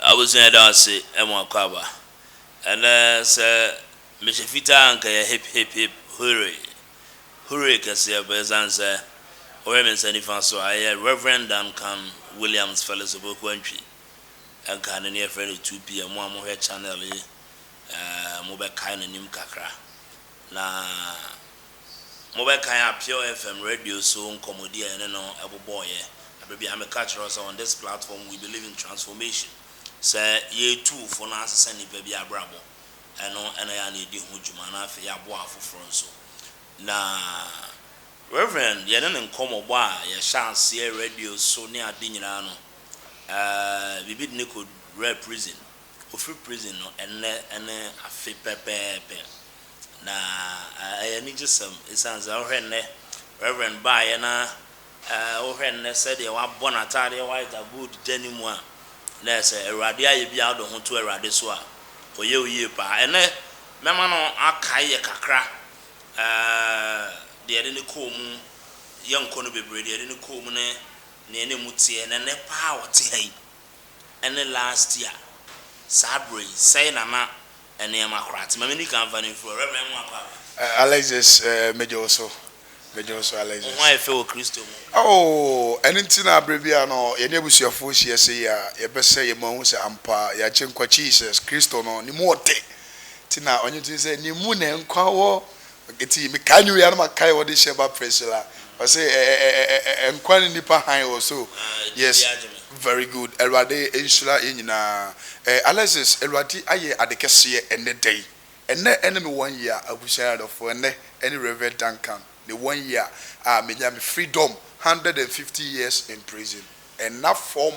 Abusua yɛda ase mo akɔ aba. Ɛnɛ sɛ mehyɛ fitaa anka yɛ hip hip hip hooray hooray kɛseɛ but ɛsiane sɛ wohwɛ me nsa nifa so a ɛyɛ Rev. Duncan Williams Felix Opoku Antwi ɛnka ne ne yɛfrɛ no 2PM mo a mohwɛ channel yi ɛɛ mobɛkae n'anim kakra na Mobɛkae a Pure FM radio so nkɔmmɔdi a yɛne no bobɔeɛ berɛ bi a na meka kyerɛ wo sɛ on this platform we believe in transformation, sɛ yɛretu wo fo na asesa nnipa bi abrabɔ, ɛno na ɛyɛ a na yɛdi ho dwuma na afei yɛaboa afoforɔ nso. Na Rev. yɛne no nkɔmmɔbɔ a yɛhyɛ aseɛ radio so ne ade nyinaa no, biribi de no kɔwuraa prison. Ɔfiri prison no ɛnnɛ ne afe pɛpɛɛpɛ, na ɛyɛ anigyesɛm ɛsiane sɛ wohwɛ nnɛ Rev. baeɛ na wohwɛ nnɛ sɛdeɛ wabɔ n'ataadeɛ white a gold da ne mu a, na ɛyɛ sɛ Awurade ayɛ bi a wode wo ho to Awurade so a, Ɔyɛ wo yie paa. Ɛnnɛ mɛma no akae yɛ kakra deɛ yɛde no kɔɔ mu, yɛnkɔ no bebree, deɛ yɛde no kɔɔ mu ne deɛ na ɛmu teɛ, na ɛnnɛ paa a ɔte ha yi. ɛne last year saa berɛ yi sɛn na na nneɛma koraa te? Ma menni kan mfa no mfiri hɔ, Rev. Nwaah Kwame. Alexis, Megye wo so, megye wo so Alexis. Wo ho ayɛ fɛ wɔ Kristo mu. Oh, ɛno nti na berɛ biara no yɛne abusuafoɔ hyia sei a, yɛbɛsɛ yɛn mu ahu sɛ ampa Agyenkwa Jesus Kristo no, Ne mu ɔte, nti na Ɔnye tumi sɛ, Ne mu na nkwa wɔ, Eti mekae ne wei a na makae wɔde hyɛ ba Priscilla ɔse ɛɛɛɛɛɛ nkwa ne nipa hann wɔ so yes very good awurade nhyira yɛn nyinaa ɛɛ Alexis awurade ayɛ ade kɛseɛ ɛnɛ da yi ɛnɛ ɛne me one year abusua adɔfoɔ ɛnɛ ɛne Rev Duncan ne one year a menya me freedom hundred and fifty years in prison. Ɛnna fam,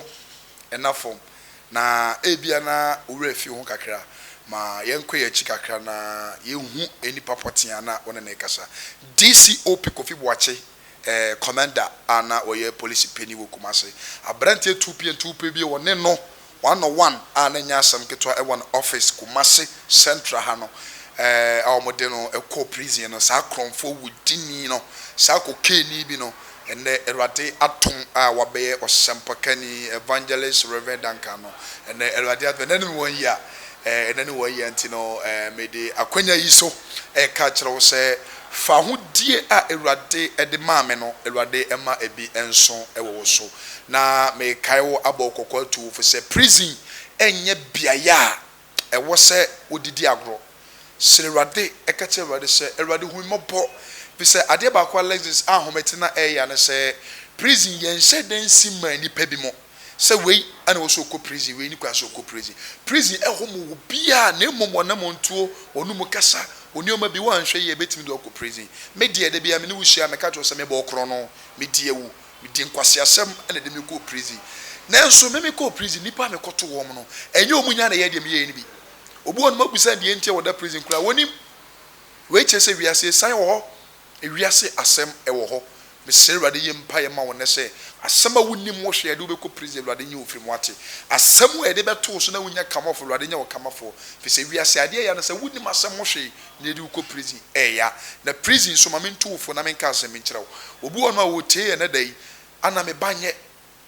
ɛnna fam, na ebia na wo werɛ afi wo ho kakra. Ma yɛnkɔ yɛn akyi kakra na yɛnhu nnipa pɔtee a na wɔne no rekasa. DCOP Kofi Boakye, ɛɛ, Commander a na ɔyɛ polisi panin wɔ Kumasi. Aberanteɛ tuupientuupie bi a wɔne no One on One a na ɛnyɛ asɛm ketewa wɔ ne office Kumasi Central ha no a wɔn de no kɔɔ prison no saa korɔnfoɔ wudini no saa kokaini bi no ɛnnɛ Awurade adom a wabɛyɛ ɔsɛmpakani Evangelist Rev Duncan no ɛnnɛ Awurade adom ɛnnɛ ne me wɔn yia ɛnnɛ ne wɔn yia nti no mede akwanya yi so ɛreka akyerɛ wo sɛ Fahodie a Awurade de maa me no, Awurade mma ebi nso wɔ wo so. Na mekae wo abɔ wo kɔkɔ atu wo fo sɛ prison nyɛ beaeɛ a ɛwɔ sɛ wode di agorɔ. Srɛ Awurade, ka kyerɛ Awurade sɛ, Awurade hu me mmɔbɔ. Ɛfiri sɛ adeɛ baako a Alexis Ahomete na ɛreyɛ ara ne sɛ, prison yɛnhyɛ da nsi mmaa nnipa binom. sɛ wei na ɔsɛ ɔkɔ prison, wei ne kwan sɛ ɔkɔ prison. Prison ɛhɔ ma obiara na mmom wɔnam tuo, wɔne mu kasa, nneɛma bi, woanhwɛ yie a ɛbɛtumi de wo akɔ prison. Me deɛ da biara me ne wo hyia a meka kyerɛ wo sɛ mebɔɔ korɔno, medi awu, medi nkwaseasɛm na ɛde me kɔɔ prison. Nanso me mekɔɔ prison, nnipa a mekɔto wɔn no, ɛnyɛ wɔn nyinaa na ɛyɛɛ deɛ meyɛeɛ no bi. Obi wɔ hɔ no mabisa no deɛ nti a wɔda prison koraa, wɔnnim. Wei kyerɛ sɛ wiase asiane wɔ hɔ. Ewiase asɛm ɛwɔ hɔ mesrɛ awurade yɛ mpaeɛ ma wo nɛ sɛ asɛm a wonim wo hwɛ yɛde wo bɛkɔ prison awurade nye wo firi mu wate asɛm a yɛde bɛto wo so na wonya kamɔfo awurade nyɛ wo kamafoɔ firi sɛ wiase adeɛ ɛya ne sɛ wonim asɛm ho hwee na yɛde wo kɔ prison ɛya na prison nso ma mento wo fo na menka asɛm bi nkyerɛ wo obi wɔ hɔ nom a ɔretie yɛn nɛ da yi ana me ba nyɛ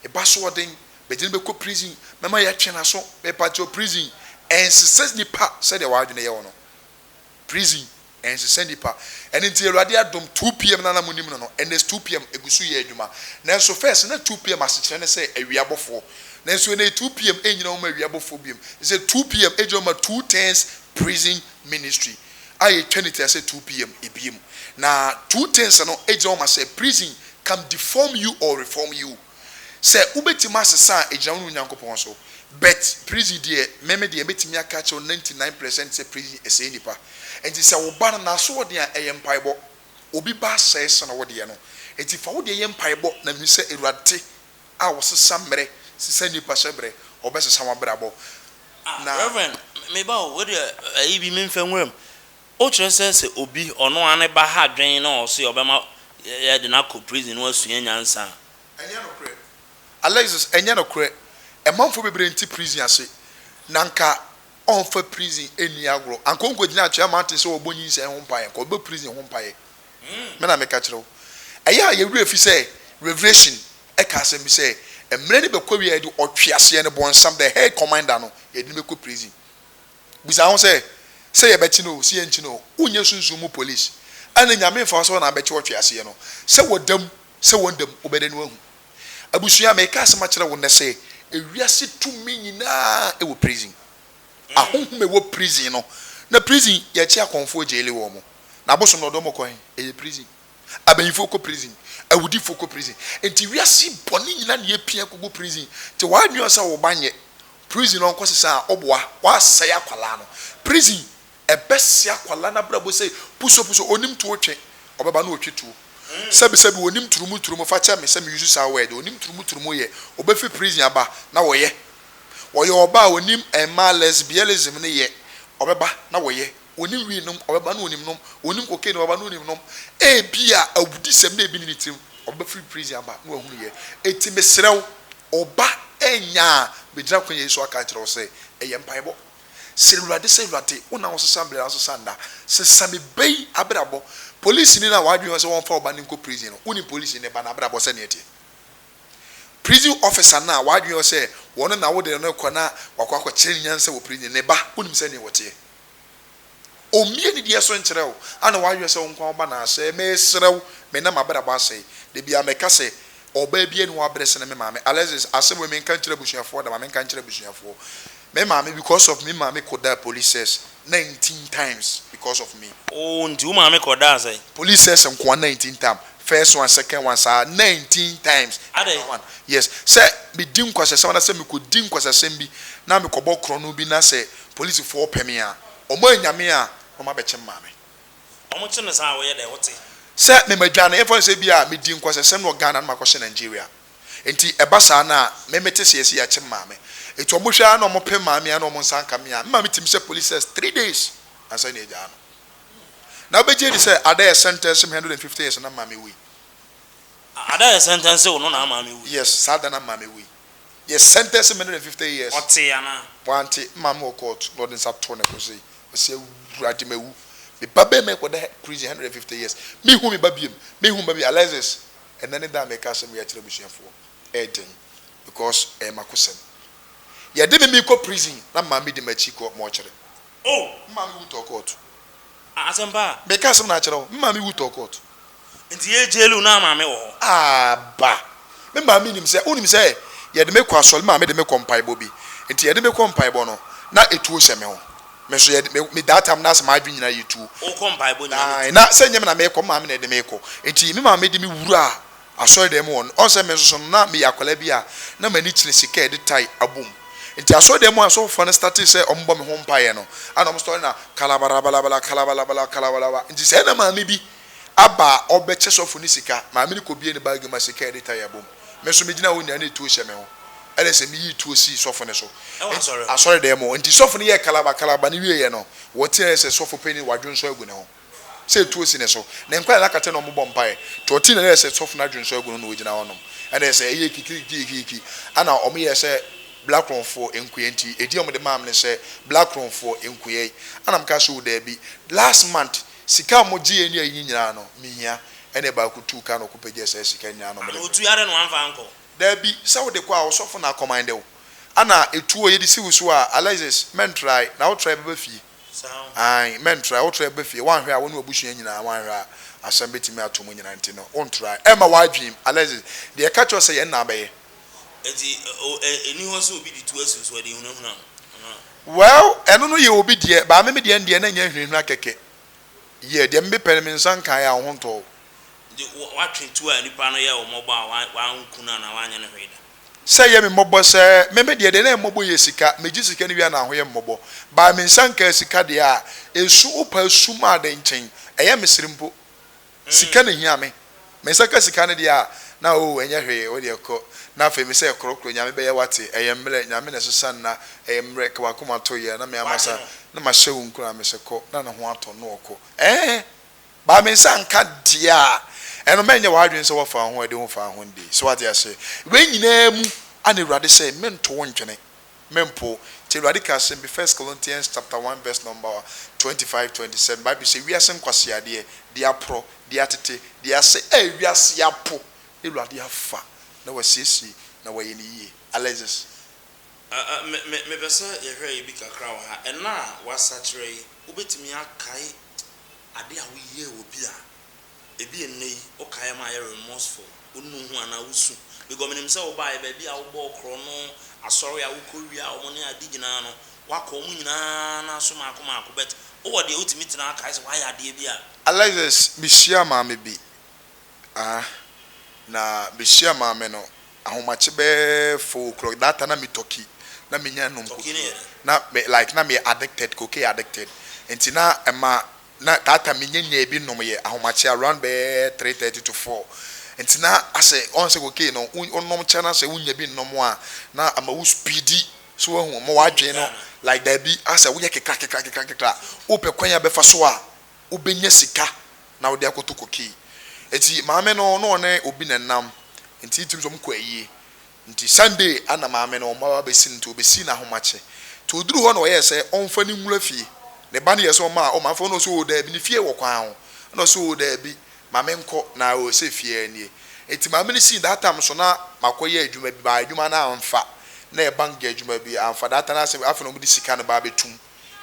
me ba so ɔden mede no bɛkɔ prison mɛma yɛatwe naso mepa kyɛw prison ɛnsesɛ nipa sɛdeɛ w'adwene yɛ wo no prison ɛnsesɛ nipa ɛno nti awurade adom two pm no a na monim no no ɛnɛ is two pm ɛgu so yɛ adwuma nanso first na two pm asekyerɛ ne sɛ awia bɔfoɔ nanso ɛnɛ yi two pm ɛnnyina hɔ ma awia bɔfoɔ biom ɛsɛ two pm ɛgyina hɔ ma two tens prison ministry a yɛtwa ne ti asɛ two pm ɛbiem na two tens no ɛgyina hɔ ma sɛ prison can deform you or reform you. Sɛ wobɛtumi asesa a ɛgyina wo ne wo Nyankopɔn so but prison deɛ me me deɛ mɛtumi aka akyerɛ wo 99 present sɛ prison ɛsɛe nnipa nti sɛ wo ba no n'asoɔden a ɛyɛ mpaebɔ obi ba asɛe sene wo deɛ no nti fa wo deɛ yɛ mpaebɔ na menim sɛ Awurade a ɔsesa mmerɛ sesa nnipa hyɛ berɛ ɔbɛsesa wabrabɔ na. Ah Rev. Me ba o, wo deɛ ayi bi menfa nwura mu. Wokyerɛ sɛ sɛ obi, ɔno ara ne ba ha dwen na ɔse ɔbɛma yɛde no akɔ prison na wasua nyansa a. Ɛnyɛ nokorɛ. Alexis, ɛnyɛ nokorɛ. Ɛmanfoɔ bebree nte prison ase. Na anka ɔmfa prison nni agorɔ. Anka ɔnkɔgyina Atwea Mountain sɛ ɔrebɔ nyinsɛn ho mpaeɛ. Anka ɔbɛbɔ prison ho mpaeɛ. Me na meka kyerɛ wo. Ɛyɛ a yɛn werɛ fi sɛ Revelation ka asɛm bi sɛ, mmerɛ no bɛkɔ awie a yɛde ɔtweaseɛ no, bɔnsam, the hell commander no, yɛde no bɛkɔ prison. Bisa ho sɛ, Sɛ yɛbɛkyene oo, sɛ yɛnkyene oo, wonyɛ sunsum mu polis. Ɛnde Nyame mfa wo sɛ Ɔna bɛkye wo atwe aseɛ no. Sɛ wɔda mu, sɛ wɔnda mu, wobɛda no ahu. Abusua, meeka asɛm akyerɛ wo nnɛ sɛ, ewiase tumi nyinaa wɔ prison. Ahonhom a ɛwɔ prison no, na prison, yɛkye akɔmfoɔ, jaile wɔn. Na abosom na ɔde wɔn kɔ he? Ɛyɛ prison. Abanyinfoɔ kɔ prison, awudifoɔ kɔ prison, nti wiase yi bɔne nyina na yɛpia kɔgu prison, nti w'adwene ɔsɛ woba nyɛ prison ɔnkɔ sesa a woboa w'asɛe akwadaa no, prison ɛbɛsɛe akwadaa no abrabɔ sɛ puso puso, ɔnim tuo twe, ɔbɛba na ɔtwe tuo, sɛbi sɛbi ɔnim turumu turumu, fa kyɛ me sɛ me use saa word, ɔnim turumu turumu yɛ, ɔbɛfiri prison aba na wɔyɛ, ɔyɛ ɔbaa ɔnim mmaa lesbianism no yɛ, ɔbɛba na wɔyɛ, Onim wii nom, ɔbɛba na onim nom. Onim cocaine, ɔbɛba na onim nom. Ebia awudisɛm na ebi ne ne tirim, ɔbɛfiri prison aba na wahunu yɛ. Enti mesrɛ wo, ɔba anya a, megyina akwan yi so aka akyerɛ wo sɛ, yɛ mpaebɔ. Srɛ Awurade sɛ, Awurade, wo na wosesa bere na wosesa nna. Sesa me ba yi abrabɔ. Polisini no a w'adwene wɔ sɛ wɔmfa wo ba no nkɔ prison no, wonim polisini no ba no abrabɔ sɛnea ɛteɛ? Prison officer no a w'adwene wɔ sɛ wɔn na wode no rekɔ na wakɔ akɔkyerɛ ne nyansa wɔ prison no, ne ba, wonim sɛnea wɔteɛ? Ommie ne deɛ so nkyerɛ wo, a na w'ahwehwɛ sɛ wo nkwa wo ba no asɛe. Meresrɛ wo, me na m'abrabɔ asɛe. Da biara mɛka sɛ, Ɔbaa biara nni hɔ abrɛ sene me maame. Alexis, Asɛm wei menka nkyerɛ abusuafoɔ da, ma menka nkyerɛ abusuafoɔ. Me maame, because of me maame kɔdaa police cells nineteen times because of me. Oo, nti wo maame kɔdaa sɛn? Police cells nkoa nineteen tam, first one, second one, saa nineteen times. Adɛn? One, yes, sɛ medi nkwaseasɛm anaasɛ mekɔdi nkwaseasɛm bi na mekɔbɔ korɔno bi na sɛ Polisifɔɔ pɛ me a, ɔmɔ annya me a na ɔmɔ abɛkye me maame. Ɔmo kye no saa a, woyɛ dɛn, wote? Sɛ me ma dwane, yɛmfa no sɛ ebi a me di nkwasasɛm no wɔ Ghana na makɔ hyɛ Nigeria, nti ɛba saa no a, me me te seɛ sɛ yɛakye me maame, nti ɔmɔ hwɛ ara na ɔmɔ pɛ me maame a na ɔmɔ nsa nka me a, me maame tumi sɛ police cess three days ansa na yɛagyaa no. Na wo bɛgye adi sɛ Ada yɛ sentence me hundred and fifty years na me maame wui. Ada yɛ sentence wo no na maame wui? Yes, saa da na me maame wui. Yɛ sɛntɛnse me no de fifty years. Ɔtee anaa? Wante, maame wɔ court na ɔde nsa too ne bo sei, ɔse awurade mawu, me ba bɛɛma ɛkɔda prison hundred and fifty years, menhu me ba biom, menhu me ba biom, Alexis ɛnɛ ne da a meka asɛm wei akyerɛ abusuafoɔ ɛyɛ den because ɛyɛ makosɛm, yɛde me mekɔ prison na maame di makyi kɔ mɔɔkyere, Oh! Me maame wu tɔɔ kɔɔto. Ah, asɛmpa a. Meka asɛm na akyerɛ wo, me maame wu tɔɔ kɔɔto. Nti yɛ gyɛɛlu na maame wɔ hɔ. Ah, ba. Me maame nim sɛ, wonim sɛ yɛde me kɔ asɔre, me maame de me kɔ mpaebɔ bi. Nti yɛde me kɔ mpaebɔ no, na etuo hyɛ me ho. Me nso yɛde me, me that time na sɛ m'adwene nyinaa yɛ tuo. Wokɔ mpaebɔ nyinaa ne tuo. Ae, na sɛ nyɛ me na merekɔ, me maame na ɛde me rekɔ. Nti me maame de me wuraa. asɔredan mu hɔ no, ɔn sɛ me nso so no na meyɛ akwadaa bi a na m'ani kyene sika a yɛde tae abom. Nti asɔredan mu a asɔfofoɔ no startee sɛ wɔn bɔ me ho mpaeɛ no, ana wɔn story na kalabarabalabala kalabalabala kalawalawa. Nti sɛɛ na maame bi aba a ɔbɛkyɛ sɔfo no sika, maame no kɔbue ne baage mu a sika a yɛde tae abom. Me nso megyina hɔ nyinaa na etuo hyɛ me ho, ɛne sɛ meyii tuo sii sɔfo no so, asɔredan mu. Nti sɔfo no yɛɛ kalaba kalaba no wieeɛ no, wɔteaɛ sɛ sɔfo panin no wadwonsɔ agu ne ho. sɛ etuo si ne so, ne nkwa na na kata na wɔbɔ mpaeɛ, nti ɔtee na ɛyɛɛ sɛ sɔfo no adwene nsɔ agu no na ɔgyina hɔ nom, ɛna ɛyɛɛ sɛ ɛyɛɛ kikirikikirikiki, ɛna wɔyɛɛ sɛ Blackromfoɔ nkoeɛ, nti edin a wɔde maa me ne sɛ Blackromfoɔ nkoeɛ, ɛna mekaa sɛ oo daabi, last month sika a wɔgyeeɛ ne ayi nyinaa no mehia, ɛna ɛbaa ɔkɔtuu kaa na ɔkɔpagyaa saa sika nyinaa na wɔde brɛɛ me. Daabi, sɛ wode kɔ a ɔsɔfo na akɔmande wo, ɛna etuo yɛde si wo so a, Alexis, mɛntrae, na wotrae bɛba fie. Aane, mɛntra. Wotra bɛba fie, woanhwɛ a, wo ne w'abusua nyinaa, woanhwɛ a, asɛm bɛtumi ato mo nyinaa, nti no, wontra. Ɛmma w'adwenem, Alexis, deɛ ɛka kyerɛ wo sɛ yɛn nna abɛyɛ. Nti, o, ɛ, ɛnni hɔ sɛ obi de tu asu so, ɛde hunahuna no, anaa? Well, ɛno no yɛ obi deɛ, but me, me deɛ no deɛ, na nyɛ nhunahuna kɛkɛ. Yeah, deɛ mepɛ no, me nsa nkaeɛ a, wo ho ntɔ wo. Nti, wo, woatwe tu a nnipa no yɛɛ wo mmɔbɔ a, wa, wanku no anaa wanyɛ no hwee da? Sɛ yɛ me mmɔbɔ sɛ me me deɛ deɛ na mmɔbɔ yɛ sika megye sika no wie a na ahoyɛ mmɔbɔ by me nsa nkaa sika deɛ a ɛsu wo paa sum a dɛn nkyɛn ɛyɛ me sere mpo sika na ɛhia me me nsa ka sika no deɛ a na oo ɛnyɛ hwee wo deɛ kɔ na afei me sɛ korɔkorɔ nyame bɛyɛ wate ɛyɛ mmerɛ nyame na ɛsesa nna ɛyɛ mmerɛ ka wakoma to yɛ na me amasa na mahyɛ wo nkuran me sɛ kɔ na ne ho atɔ no ɔkɔ ɛɛɛ. Ba me nsa nka deɛ a ɛno ma ɛnyɛ w'adwene sɛ woafa wo ho adi ho fa ho de. So woate aseɛ? Wei nyinaa mu a na Awurade sɛ mento wo ntwene, mempo wo. Nti Awurade kaa asɛm bi, First Corinthians chapter one verse number twenty five, twenty seven, Bible sɛ, Wiase nkwaseadeɛ, deɛ aporɔ, deɛ atete, deɛ ase a wiase apo na Awurade afa na wasiesie na wayɛ no yie. Alexis. Me, me, mepɛ sɛ yɛhwɛ ebi kakra wɔ ha. Ɛna a woasakyera yi, wobɛtumi akae Ade a woyɛɛ wɔ bi a ebia nnɛ yi wokae ma ayɛ remorseful, wonnu ho anaa wusu. Because minim sɛ wobae, baabi a wobɔɔ korɔno, asɔre a wukowiaa wɔn ne ade nyinaa no, woakɔ wɔn nyinaa no aso mmaako mmaako, but wowɔ deɛ wutumi tena kae sɛ woayɛ adeɛ bi a. Alexis, Mihyiaa maame bi Ah, na mehyia maame no ahomakye bɛyɛ four o'clock that time na me tɔki na me nya nom koke na me like na me addicted koke addicted nti na ɛma na that time me nya nya ebi nom yɛ ahomakye around bɛyɛ three thirty to four nti na asɛ ɔn sɛ koke no wo nom kyɛ na sɛ wo nya bi nom a na ama wo speedy so wahu ɔmo wadwen no like dabi asɛ wo yɛ kekra kekra kekra kekra wo pɛ kwan a bɛfa so a. wobɛnya sika na wode akɔtɔ cocaine. Nti maame no na ɔne obi na ɛnam, nti tumi sɛ wɔkɔ ayie. Nti Sunday na maame no wɔn aba bɛsi no, nti wɔbɛsii no ahomakye. Nti ɔduruu hɔ na ɔyɛɛ sɛ ɔmfa no nwura fie. Ne ba no yɛɛ sɛ ɔma a, o maame fa no, na ɔse oo daabi, ne fie wɔ kwan ho. Ɛna ɔse oo daabi, ma me nkɔ, na oo sɛ fie ara nie. Nti maame no sii, that time nso na makɔyɛ adwuma bi, but adwuma no amfa, na ɛyɛ bank adwuma bi, amfa, that time na asɛ afei na wɔde sika no ba abɛtum.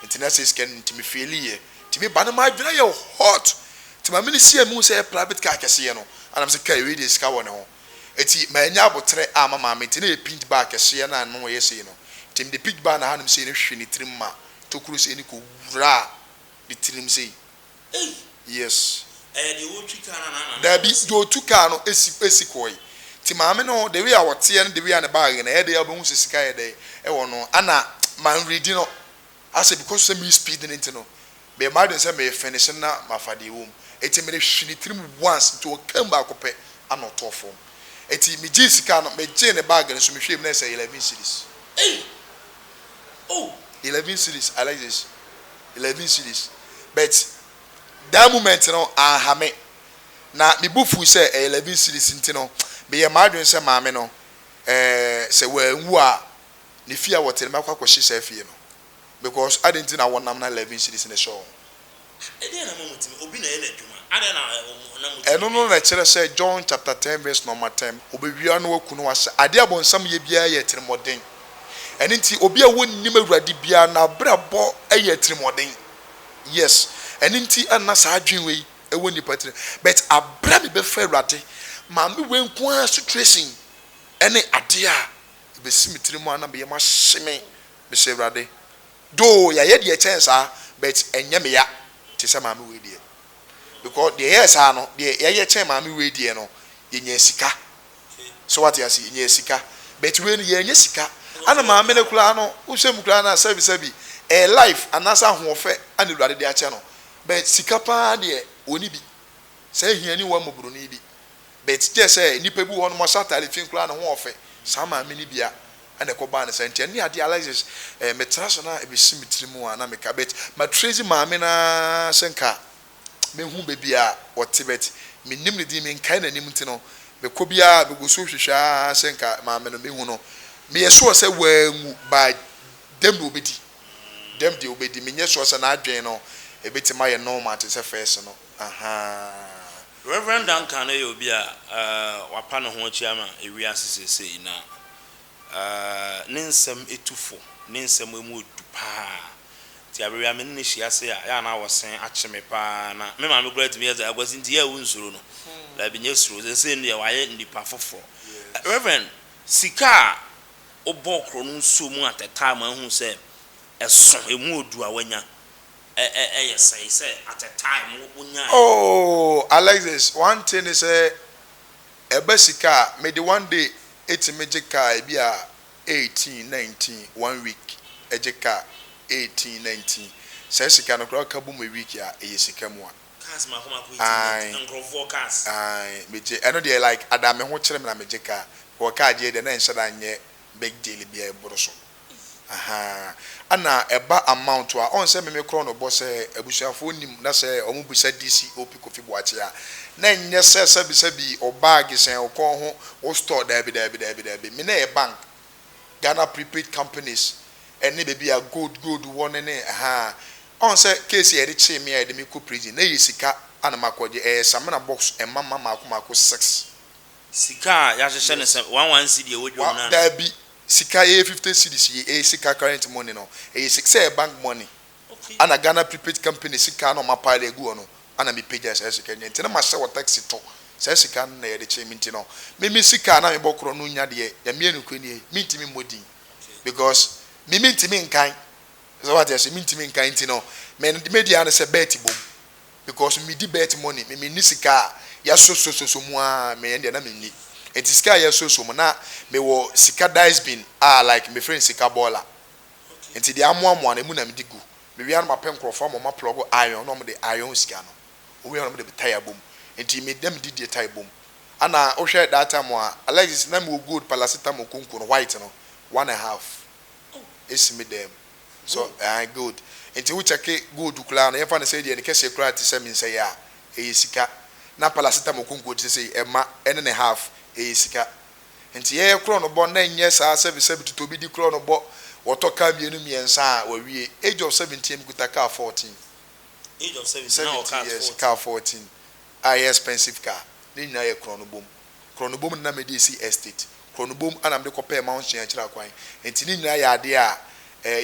nti na sei sika no nti me feeli yɛ nti me ba no m'adwene ayɛ hot nti maame no si a mehu sɛ ɛyɛ private car kɛseɛ no a na me sɛ kai wei deɛ sika wɔ ne ho nti mannya aboterɛ amma maame nti na ɛyɛ pink bag kɛseɛ no a ano yɛ sei no nti mede pink bag no ahanom sei no hwehwe ne tirim ma tokuro sei no kɔwuraa ne tirim sei Yes. Dabi, deɛ ɔtu car no si si kɔɔe. Nti maame no the way a ɔteɛ no the way a ne bag no ɛyɛ dɛn a wobɛhu sɛ sika yɛ dɛn ɛwɔ no ɛna man ready no asɛ because sɛ me speed no nti no meyɛ m'adwene sɛ me finish no na mafa deɛ ɛwɔ mu nti me de hwe ne tiri mu once nti ɔkaa mu baako pɛ ɛna ɔtɔɔ fam nti me gyee sika no me gyee ne bag no so me hwɛɛ mu na ɛsɛ eleven cedis. Eleven cedis Alexis. eleven cedis but that moment no anha me na me bo fuw sɛ ɛyɛ eleven cedis nti no meyɛɛ m'adwene sɛ maame no ɛɛ sɛ wanwu a ne fie a wɔte no mɛkɔ akɔhye saa fie no because adɛn nti na wɔnam na eleven cedis no hyɛ wɔn. Ɛdeɛn na ɛma motumi? Obi na ɛyɛ n'adwuma. Adɛn na ɛ, wɔn, na motumi Ɛno no na ɛkyerɛ sɛ John chapter ten verse number ten, Wɔbɛwia no, wɔaku no, wɔahyɛ adeɛ a Ɔbonsam yɛ biara yɛ atirimuɔden. Ɛno nti obi a wonnim Awurade biara n'abrabɔ yɛ atirimuɔden. Yes, ɛno nti na saa adwene wei wɔ nnipa tirim. But aberɛ a mebɛfa Awurade, maame wei nko ara situation ne adeɛ a ɛbɛsi me tirim a na meyɛ mahye me, mesɛ Awurade. Though yɛayɛ deɛ ɛkyɛn saa but ɛnyɛ meya te sɛ maame wei deɛ. Because deɛ ɛyɛɛ saa no, deɛ yɛayɛ kyɛn maame wei deɛ no, yɛnyaa sika so wate ase nyaa sika but wei no yɛnyɛ sika ana maame no koraa no wohwɛ mu koraa no a sɛbi sɛbi ɛyɛ life anaasɛ ahoɔfɛ ana awurade de akyɛ no but sika paa deɛ ɔni bi saa ahiani wa mmɔboroni bi but gyɛ sɛ nnipa bi wɔ hɔ no wɔhyɛ ataade fi koraa no ho ɔfɛ saa maame no bia ana ɛkɔ baa no saa nti ɛne adeɛ Alexis eh, metra so na ɛbɛsi me tiri mu a na meka but matrezi maame no ara sɛ nka mehu baabi a ɔte but mennim ne din, menkae n'anim nti no mekɔ biara megu so hwehwɛ ara sɛ nka maame no mehu no. Meyɛ sure sɛ wanwu but dɛm deɛ ɔbɛdi, dɛm deɛ ɔbɛdi, menyɛ sure sɛ n'adwene no ɛbɛtumi ayɛ normal te sɛ first no ahaa. Rev. Duncan yɛ obi a wapa ne ho atua ma wiase seesei na Ahh ne nsɛm tu fo ne nsɛm emu du paa nti aber bia me ne no hyia ase a yɛa na wɔ se akye me paa na me maame koraa tumi yɛ dza Aguase ntsi yɛa wonsuro no daabi nyɛ suro dze nsei no deɛ wayɛ nipa foforɔ Rev. Sika a wobɔɔ korɔ no nsuo mu atɛtaa ma ahu sɛ ɛso emu odu a wanya ɛ yɛ sɛe sɛ atɛtaa emu wonyae. Ooh Alexis wante ne sɛ Ɛba sika a, mede one day tumi gye car ebi a eighteen, nineteen, one week gye car eighteen, nineteen, saa sika no koraa woka bom a week a ɛyɛ sika mu a. Cars mako mako eighteen, nineteen, Ae, nkorɔfoɔ cars. ae, megye, ɛno deɛ like ada me ho kyere me na megye car, because car gyeɛ deɛ na ɛnhyɛ da nyɛ big deal bia ɛboro so ahaa ɛna ɛba amount a ɔn sɛ meme korɔ no bɔ sɛ abusuafoɔ nim na sɛ ɔmo bisa DC OP Kofi Boakye a na ɛnyɛ sɛ sɛbi sɛbi wo bag sɛn wo kɔn ho wo store daabi daabi daabi daabi me na ɛyɛ bank Ghana prepaid companies ɛne baabi a gold gold wɔ ne ne ahaa ɔn sɛ case a yɛde kyee me a yɛde me kɔ prison na ɛyɛ sika a na makɔ gye ɛyɛ samina box ɛma ma maako maako six. Sika a yahyehyɛ no sɛ one one cedi a ɛwɔ dwom no a. Daabi, sika yɛ fifty cedis yɛ ɛyɛ sika current money no ɛyɛ sika sɛ ɛyɛ bank money ɛna Ghana prepaid company sika na wɔn a pile agu hɔ no ɛna me pagya saa sika no nti na mahyɛ wɔ taxi to saa sika no na yɛde kye me nti no me me sika a na me bɔ korɔ no nya deɛ Nyame yɛ nokorɛ nie me ntumi mmɔ din because me me ntumi nkan sɛ wate aseɛ me ntumi nkan nti no me deɛ me deɛ ara ne sɛ bet bom. Because me di birth money me me nni sika a yɛ so so so so mu aa me yɛn deɛ na me nni nti sika a yɛ so so mu na me wɔ sika dice bin a like me frɛ no sika boiler nti deɛ amoa moa no emu na me de gu me wia no ma pɛ nkorɔfoɔ ama ɔmo a plug iron na ɔmo de iron sika no owia no ɔmo de tire bɔ mu nti me na me di deɛ tire bɔ mu ɛna wo hwɛ that time a Alexis na me wɔ gold palacetamol konko no white no one and half esi me dan mu. So aane gold nti wo kyɛke gold koraa no yɛmfa no sɛ deɛ ne kɛseɛ koraa te sɛ mensɛeɛ a ɛyɛ sika na paracetamol konko te sɛ sei ɛma ɛne ne half ɛyɛ sika nti yɛyɛ korɔ no bɔ na ɛnyɛ saa sɛbi sɛbi totɔ obi di korɔ no bɔ wɔtɔ car mmienu mmiɛnsa a wawie age of seventeen me kuta car fourteen Age of seventeen na wɔ cars fourteen. seventeen years car fourteen a ɛyɛ expensive car ne nyinaa yɛ korɔ no bom Korɔnobom na na mede resi estate. Korɔnobom na mede kɔpɛɛ Mount Sion akyiri akwan. Enti ne nyinaa yɛ adeɛ a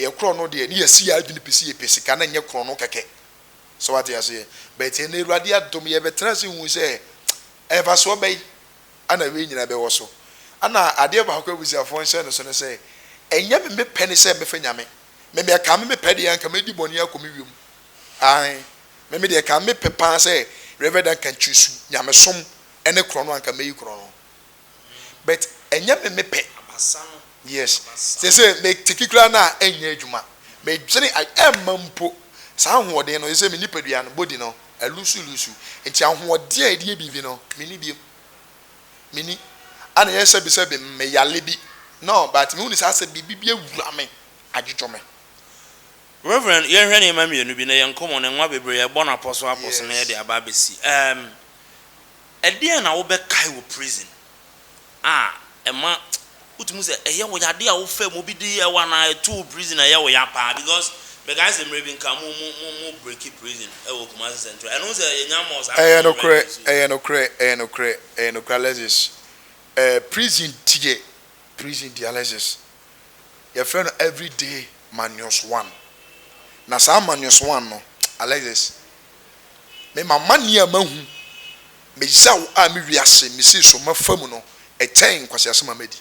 yɛ korɔno deɛ ne yɛasi yɛn adwene pi sɛ yɛpɛ sika na ɛnyɛ korɔno kɛkɛ. So wate aseɛ? But ɛnnɛ Awurade adom yɛbɛtena ase hui sɛ mfasoɔ bɛn na wei nyinaa bɛwɔ so. Ɛna adeɛ baako abusuafoɔ nhyɛ no so ne sɛ, ɛnyɛ me me pɛ ne sɛ mɛfa Nyame. Me me ɛkaa me me pɛ deɛ anka mɛdi bɔne akɔ me wiem. Aane. Me me deɛ ɛkaa me me pɛ paa sɛ Rev. Duncan choose Nyamesom Ɛne korɔno anka mɛyi korɔno but ɛnyɛ me me pɛ yes seesei me teki koraa no a ɛnyɛ adwuma medwene a ɛmma mpo saa ahoɔden no seesei me nipadua no body no alusu lusu nti ahoɔden a ɛde yɛ biribi no menni biom menni ana yɛ sɛbi sɛbi me yale bi no but mehu ne saa sɛ biribi bi awura me adwodwo me. Rev. Yɛnhwɛ nneɛma mmienu bi na yɛn nkɔmmɔ no nwa bebree a ɛbɔ no apɔso apɔso na yɛde aba abɛsi. Um. Ɛdeɛn na wobɛkae wɔ prison a ɛma wotumi hu sɛ ɛyɛ wo ya? Adeɛ a wofaa mu, obi de yɛɛ wo anaa ɛtoo wo prison a ɛyɛ wo ya paa? Because mekae sɛ mmerɛ bi nka mo mo mo mo breaki prison wɔ Kumasi Central. Ɛno sɛ yɛnya more saa Ɛyɛ prison nokorɛ, breaking so. ɛyɛ nokorɛ, ɛyɛ nokorɛ, ɛyɛ nokorɛ Alexis. Ɛɛ prison deɛ, prison deɛ Alexis, yɛfrɛ no everyday manius one. Na saa manius one no Alexis. Me m'amane a mahu, me yaw a me wiase misii so mafa mu no kyɛn nkwaseasɛm a madi.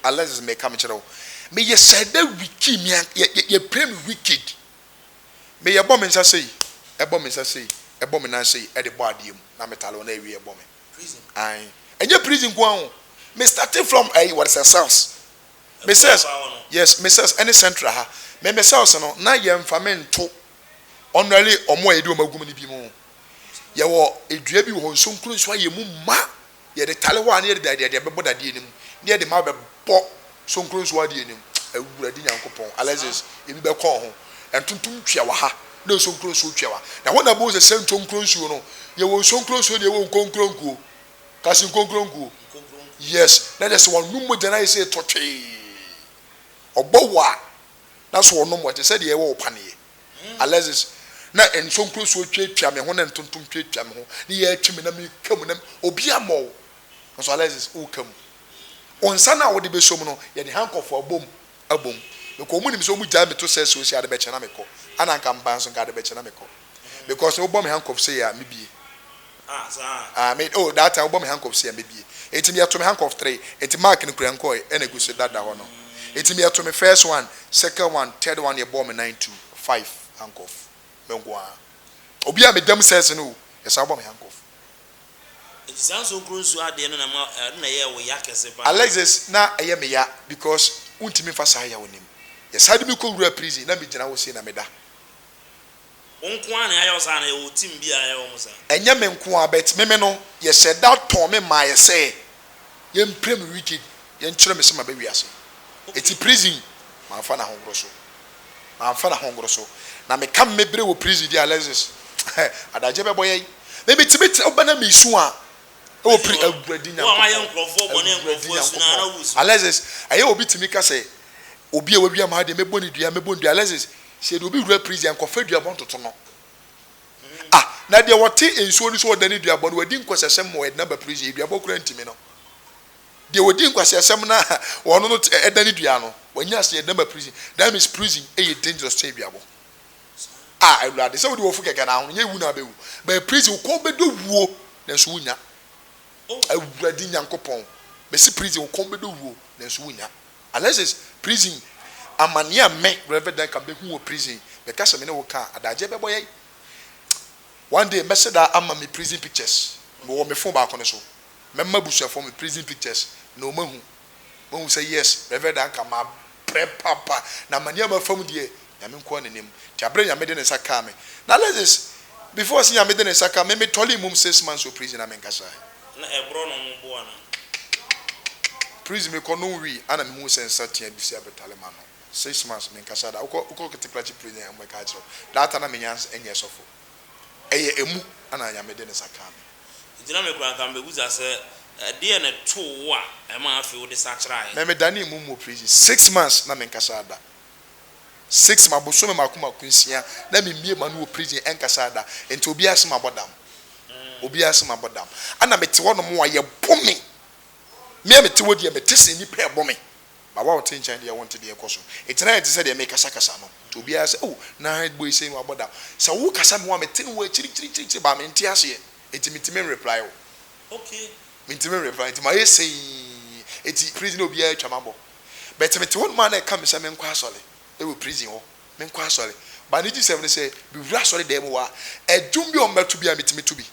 Alexis meka mekyerɛ wo, meyɛ sɛ dɛ Wiki, me an yɛ yɛ yɛpira me wicked. Me yɛbɔ me nsa sei, ɛbɔ me nsa sei, ɛbɔ me nan sei ɛde bɔ adeɛ mu na metale wɔn ɛwie ɛbɔ me. Ae, ɛnyɛ prison nko ara o, me starting from ɛyi wɔde sɛ cells, me cells, yes, me cells ɛne central ha, me me cells no na yɛnfa me nto. ɔnoɛre wɔn a yɛde wɔn agum no bi mu. Yɛwɔ dua bi wɔ hɔ, nsonkuro nso ayɛ mu ma. Yɛde tare hɔ a na yɛde dadeɛ de bɛbɔ dadeɛ no mu na yɛde ma bɛbɔ sonkuro nso adeɛ no mu. Awurade Nyankopɔn, Alexis, ebi bɛkɔn ho. Ntontom twea wɔ ha na nsonkuro nso twea wɔ ha. Na hɔ na bohu sɛ sɛ ntonkuro nsuo no, yɛwɔ nsonkuro nsuo deɛ ɛwɔ nkonkuro nkuo. Kasi nkonkuro nkuo. Yes, na kyerɛ sɛ wɔn nom mogya no ayɛ sɛ ɛtɔ twee. Ɔbɔ wɔ a, Na so ɔnom wɔ te sɛ deɛ ɛwɔ wo paneɛ? Alexis, Na nsonkoresuo tweatwea me ho na ntontom tweatwea me ho, ne yɛ atwi me na meka mu na obi ammɔ wo? Nanso Alexis, woka mu. Wo nsa no a wode bɛsɔ mu no, yɛde hankɔfo abom abom. Mekɔ, wɔnim sɛ wɔgyae me to sɛ sɛ ɔsi ade bɛkyɛ na mekɔ. Ana anka mebaa nso nka ade bɛkyɛ na mekɔ. because wobɔ me handcuffs yɛ a mebie ah me oh that time wobɔ me handcuffs yɛ a mebie eti me yɛto me handcuff three eti mark no kura nkɔɛ ɛna egu so dada hɔ no eti me yɛto me first one second one third one yɛbɔɔ me nine two five handcuff me nko ara obi a me dam sɛs no o yɛsan wobɔ me handcuff. Nti saa nsonkuro nsuo adeɛ no na ɛma ɛno na ɛyɛɛ wo ya kɛse paa. Alexis na ɛyɛ me ya because wontumi nfa saa yaw nim yɛsan de me kɔ wura prison na me gyina hɔ sei na meda Wo nko ara na yɛayɛ wo saa anaa yɛwɔ team bi a yɛyɛ wɔn saa? Ɛnyɛ me nko ara but me me no yɛhyɛ da tɔn me maayɛ sɛ yɛmpira me wicked yɛnkyerɛ me sɛ maba wiase ɛti prison manfa na hongoro so manfa na hongoro so na me ka me bere wɔ prison di Alexis adagye bɛbɔ yɛn me me tumi tena ba na me su a ɛwɔ pri awuradi nyankopɔn Alexis ɛyɛ obi tumi ka sɛ obi a wawia maa deɛ mɛbɔ ne dua mɛbɔ ne dua Alexis Sɛ yɛde obi wura prison a, nkɔfa duabɔ ntoto no. Ah, na deɛ ɔte nsuo no so ɔdane duabɔ no, wadi nkwaseasɛm ma ɔde no aba prison yi, duabɔ koraa ntumi no. Deɛ ɔdi nkwaseasɛm na ɔno no ɛdane dua no, wanya ase yɛde no aba prison. That means prison ɛyɛ dangerous sɛn duabɔ. Ah, awurade, sɛ wode wɔfo kɛkɛ na ahono, nyɛ wu na abɛwu. Bɛɛ prison, wokɔ wobɛdɔ wuo, nanso wonya. Awurade Nyankopɔn, mɛsi prison, wokɔ wobɛdɔ wuo, nanso wonya. Alexis, Prison amaneɛ a me, Rev. Duncan, bɛhu wɔ prison, meka sɛ me ne wo ka a, adagyeɛ bɛbɔ yɛn. One day, mɛsɛ daa ama me prison pictures, mewɔ me phone baako no so. Mɛma abusuafoɔ me prison pictures na wɔahu. Wɔahu sɛ yes, Rev. Duncan, mabrɛ papa, na amaneɛ a mafa mu deɛ, Nyame nkoaa na nim. Nti aberɛ Nyame de ne nsa kaa me na Alexis before se Nyame de ne nsa kaa me me tɔlee mum six months wɔ prison a me nkasaɛ. Na ɛborɔ no ho bo anaa? Kikikikikiki Prison me kɔ no wii a na me huu sɛ nsa tea bi si abɛtare m'ano. Six months me nkasaɛ da. Wokɔ wokɔ Kitiklakyi prison a ɔmo bɛka akyerɛ wo. That time na me nya nyɛ sɔfo. Ɛyɛ emu a na Nyame de ne nsa kaa me. Nti na me koraa nka me bɛ busa sɛ ɛdeɛ na ɛtoo wo a ɛmaa afei wo de sakyeraɛ. Me me danee mum wɔ prison six months na me nkasaɛ da. six ma bosome mako mako nsia na me mie ma no wɔ prison ɛnkasa da nti obia se mabɔ dam obia se mabɔ dam ɛna mete hɔ nom a yɛ bo me mea mete hɔ deɛ mete se nipa ɛbɔ me ba wa ɔte nkyɛn deɛ wonte deɛ ɛkɔ so nti na ɛte sɛ deɛ me kasa kasa no nti obia se oh na hide boy sei no wabɔ dam sɛ wo kasa me wa mete no wɔ akyiri kyiri kyiri kyiri ba me nte aseɛ nti me ntimi nreply wo me ntimi nreply nti ma yɛ seii nti prison obia atwa mabɔ. but mete hɔ nom a na ɛka me sɛ menkɔ asɔre wɔ prison hɔ, menkɔ asɔre but ne gyesɛm ne sɛ mewura asɔre dan mu hɔ a ɛdwom bi a ɔmmɛto biara metumi to bi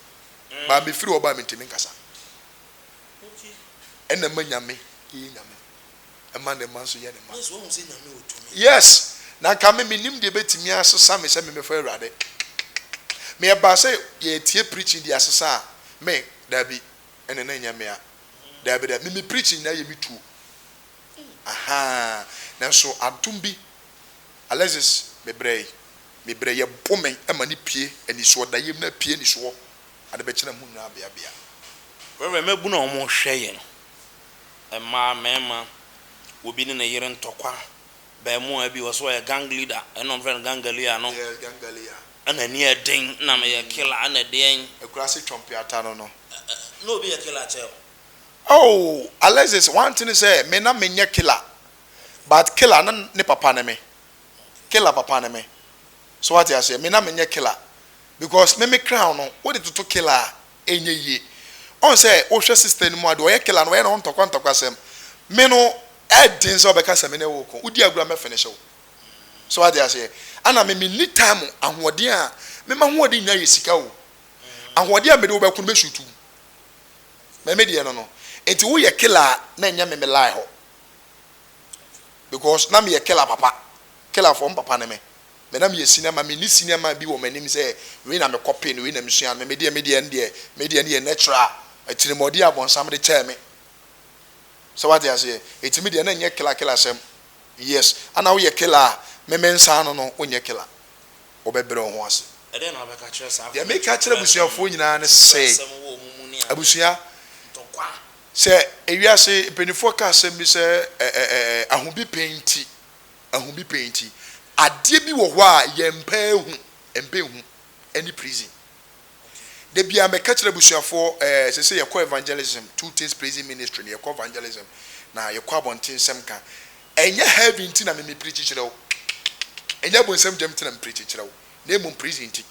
but mefiri hɔ ba a mentumi nkasa ɛna ɛma nyame yɛ nyame ɛma ne mma nso yɛ ne mma yes na nka me menim deɛ bɛtumi asesa me sɛ memɛfɔ awurade meyɛbaa sɛ yɛtie preaching de asesa a me daabi ɛne na ɛnyɛ me a Daabi daabi, me me preaching nyinaa yɛ me tuo ahaa nanso adom bi Alexis me brɛ yi me brɛ yɛ bo me ma no pue anisoɔ da yɛm no apue anisoɔ ade bɛkyɛ na mo nyinaa bea bea. Rev mmabunu a wɔn hwɛ yɛn mmaa mmarima wɔ bi ne ne yere ntɔkwa abaamuwaa bi wɔ so ɔyɛ gang leader ɛna wɔn frɛ no gangalear no yes gangalear Ɛna ani yɛ den na meyɛ killer ɛna ɛdeɛn. Akurase twɔmpeata no no. Na obi yɛ killer kyɛɛ wo. Oh Alexis one thing ne sɛ me na me nyɛ killer but killer na ne papa ne me killer papa ne me so wate aseɛ me na me nyɛ killer because me me crown no wo de toto killer a ɛnyɛ yie ɔn sɛ wo hwɛ sister no mu a deɛ ɔyɛ killer no ɔyɛ ne ho ntɔkwa ntɔkwa sɛm me no ɛden sɛ ɔbɛka sɛ me ne wo ko wo di agorɔ a mɛ finish wo. So wate aseɛ? Ana me menni time ahoɔden a me m'ahoɔden nyinaa yɛ sika o. Ahoɔden a mede wo bɛko no bɛ shoot wo. Mɛ me deɛ no no. Enti woyɛ killer a na ɛnyɛ me me lie hɔ. Because na meyɛ killer papa. Killer fɔ mpapa ne me. Mɛ na meyɛ cinema me nni cinema bi wɔ m'anim sɛ wei na me kɔpe no wei na me sua no. Mɛ me deɛ me deɛ no deɛ me deɛ no yɛ natural atirimuɔden a bɔnsam de kyɛɛ me. So wate aseɛ? Enti me deɛ na ɛnyɛ killer killer sɛm. Yes ana woyɛ killer a meme nsa ano no wonyɛ killer wobɛbrɛ wo ho ase. Ɛdeɛn na wobɛka akyerɛ saa Deɛ meka akyerɛ abusuafoɔ nyinaa ne sɛ abusua sɛ ewiase mpaninfoɔ ka asɛm bi sɛ ahubipɛn nti ahubipɛn nti adeɛ bi wɔ hɔ a yɛmpɛ hu mpɛ hu ɛne prison. Da biara meka kyerɛ abusuafoɔ eh ɛsɛ sɛ yɛkɔ evangelism two things praising ministry na yɛkɔ evangelism na yɛkɔ abɔnten nsɛm ka ɛnyɛ heavy nti na me me preachi kyerɛ wo ɛnyɛ abonsam gyam nti na me preachi kyerɛ wo na mmom praising nti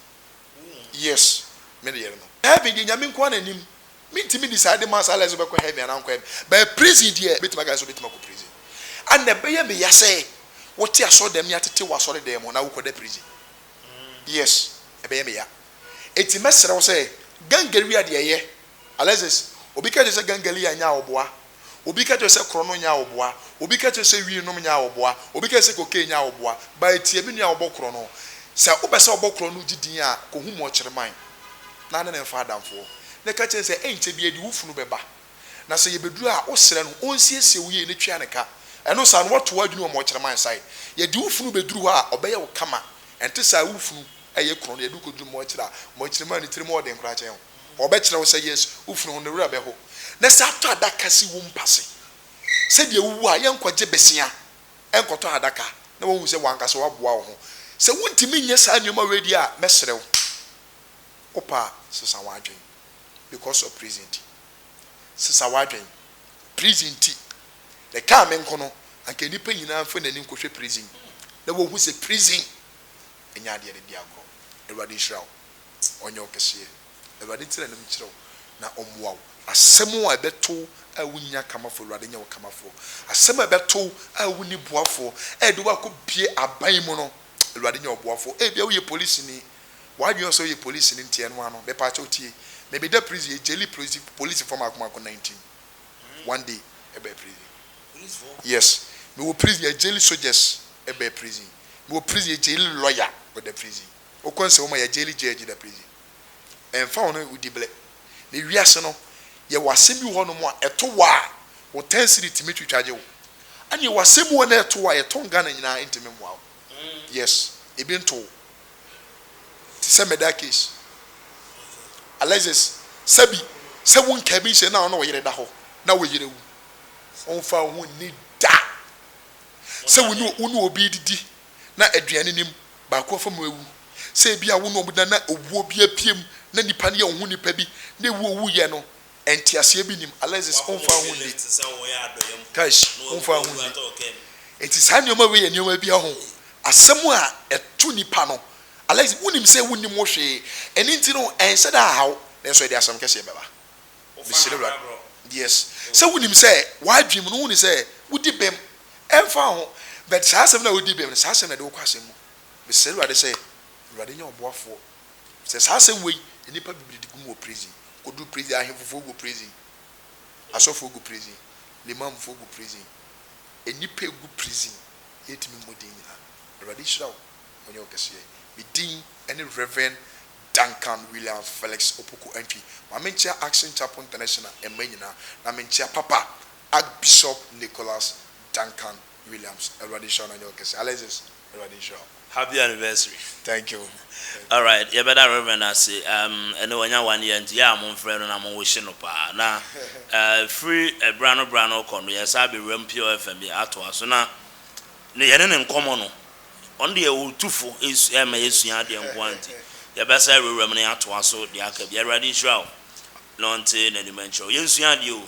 yes me ne yere no. Heaven deɛ Nyame nko ara na nim mentumi decide ma saa life sɛ wobɛkɔ heaven anaa wonkɔ heaven but praising deɛ mɛtumi aka sɛ wobɛtumi akɔ praising and ɛbɛyɛ me ya sɛ wote asɔre dɛm ne atete wo asɔre dan mu na wokɔda praising Yes, ɛbɛyɛ me ya. Enti mɛsrɛ wo sɛ gangaria deɛ yɛ. Alexis, obi ka kyerɛ sɛ gangalia nyɛ awoboa. Obi ka kyerɛ sɛ korɔno nyɛ awoboa. Obi ka kyerɛ sɛ wii nom nyɛ awoboa. Obi ka kyerɛ sɛ cocaine nyɛ awoboa. But tie me nua wɔbɔ korɔno. Sɛ wopɛ sɛ wɔbɔ korɔno gye din a, kɔhu Mokyerman na ne no mfa adamfoɔ. Na ka kyerɛ no sɛ ɛnkyɛ biara di wo funu bɛba. Na sɛ yɛbɛduru a, wosrɛ no ɔnsiesie wo yie na tua no ka. Ɛno saa no, woato w'adwene wɔ Mɔkyerɛ Man Sae. Yɛde wo funu bɛduru hɔ a, ɔbɛyɛ wo kama. Ɛnte saa a, wo funu yɛ kronn. Yɛde wo kɔduru Mɔkyerɛ a, Mɔkyerɛ Man no tirim wɔ den koraa kyɛn wo. Wɔbɛkyerɛ wo sɛ, yes, wo funu ho no werɛ bɛho. Na sɛ atɔ adaka si wo mpa se sɛdeɛ wowu a, yɛnkɔgye bɛsea nkɔtɔ adaka na wɔahu sɛ w'ankasa woaboa wo ho. Sɛ wontumi nyɛ saa nneɛma wei deɛ a, mɛsrɛ wo, wopɛ a, sesa w'adwene. because of prison nti. Sesa w'adwen. Prison nti, na ɛkaa me nko no, anka nnipa nyinaa mfa n'ani nkɔhwɛ prison na wɔhu sɛ prison nyɛ adeɛ de di agorɔ. Awurade nhyira wo. Ɔnyɛ wo kɛseɛ. Awurade ntena anim nkyerɛ wo na ɔmmoa wo. Asɛm a ɛbɛto wo a wonni akamafoɔ, Awurade nyɛ wo kamafoɔ. Asɛm a ɛbɛto wo a wonni boafoɔ a ɛde wo akɔbue aban mu no, Awurade nyɛ wo boafoɔ. Ebia woyɛ polisini, W'adwen ɔsɛ ɔyɛ police no nti ɛnoa no mepaakyɛw tie me meda prison yɛ gyeli police police foɔ maako maako nineteen one day ɛbɛɛ prison yes me wɔ prison yɛ gyeli soldiers ɛbɛɛ prison me wɔ prison yɛ gyeli lawyer ɔda prison ɔkɔ nsɛ wɔma yɛ gyeli judge da prison ɛnfa wɔn no odi blɛ me wiase no yɛ wɔ asɛm bi wɔ hɔ nom a ɛto wɔ a wɔ ten cedi tumi twitwa gye wo ɛne yɛ wɔ asɛm bi wɔ hɔ nom a ɛto wɔ a yɛ tɔn Ghana nyinaa ɛntumi mmoa wo. Yes ebi ntow te sɛ murder case Alexis sɛbi sɛ wo nkaa bi nhyɛ na wo ne wo yere da hɔ na wo yere wu womfa wo ho nni da sɛ wo ne wo ne obi redidi na aduane nim baako afa mu awu sɛ ebi a wo ne wɔn da na owuo bi apue mu na nipa no yɛ wo ho nipa bi na ewu a owuiɛ no Nteaseɛ bi nim Alexis womfa ho nni Kais womfa ho nni Enti saa nneɛma wei yɛ nneɛma bi ho asɛm a ɛto nipa no Alexis wonim sɛ wonnim ho hwee ɛno nti no ɛnhyɛ da nhaw nanso ɛde asɛm kɛseɛ bɛba Mesrɛ Awurade yes sɛ wonim sɛ w'adwene mu no wonim sɛ wodi bem ɛmfa ho but saa asɛm no a wodi bem no saa asɛm no ɛde wo kɔ asɛm mu Mesrɛ Awurade sɛ Awurade nyɛ ɔboafoɔ Sɛ saa asɛm wei nnipa bebree de gu mu wɔ prison, kɔduru prison, ahemfofoɔ gu prison, asɔfoɔ gu prison, limamfoɔ gu prison, nnipa ɛgu prison, yɛntumi mmɔ din nyinaa. Awurade nhyira wo, ɔnyɛ wo kɛseɛ. Me din ne Rev. Duncan Williams Felix Opoku Antwi. Ma menkyea Action Chapel International mma nyinaa, na menkyea Papa Archbishop Nicholas Duncan Williams Awurade nhyira wo na nyɛ wo kɛse Alexis Awurade nhyira wo. Happy anniversary. Thank you. Alright yɛbɛda Rev ase um ɛnɛ wanya one year nti yɛ a monfrɛ no na mo wish no paa na uh firi ɛbra eh, no bra no kɔ no yɛsan bɛwura mu Pure FM yi atoa so na ne yɛne ne nkɔmɔ no ɔno deɛ ɔtu fo ɛsu ɛma yɛsua adeɛ nkoa nti yɛbɛsan awurawura mu na yɛatoa so deɛ aka bi Awurade nhyira wo na ɔnte n'anim nkyerɛ wo yɛnsua adeɛ o.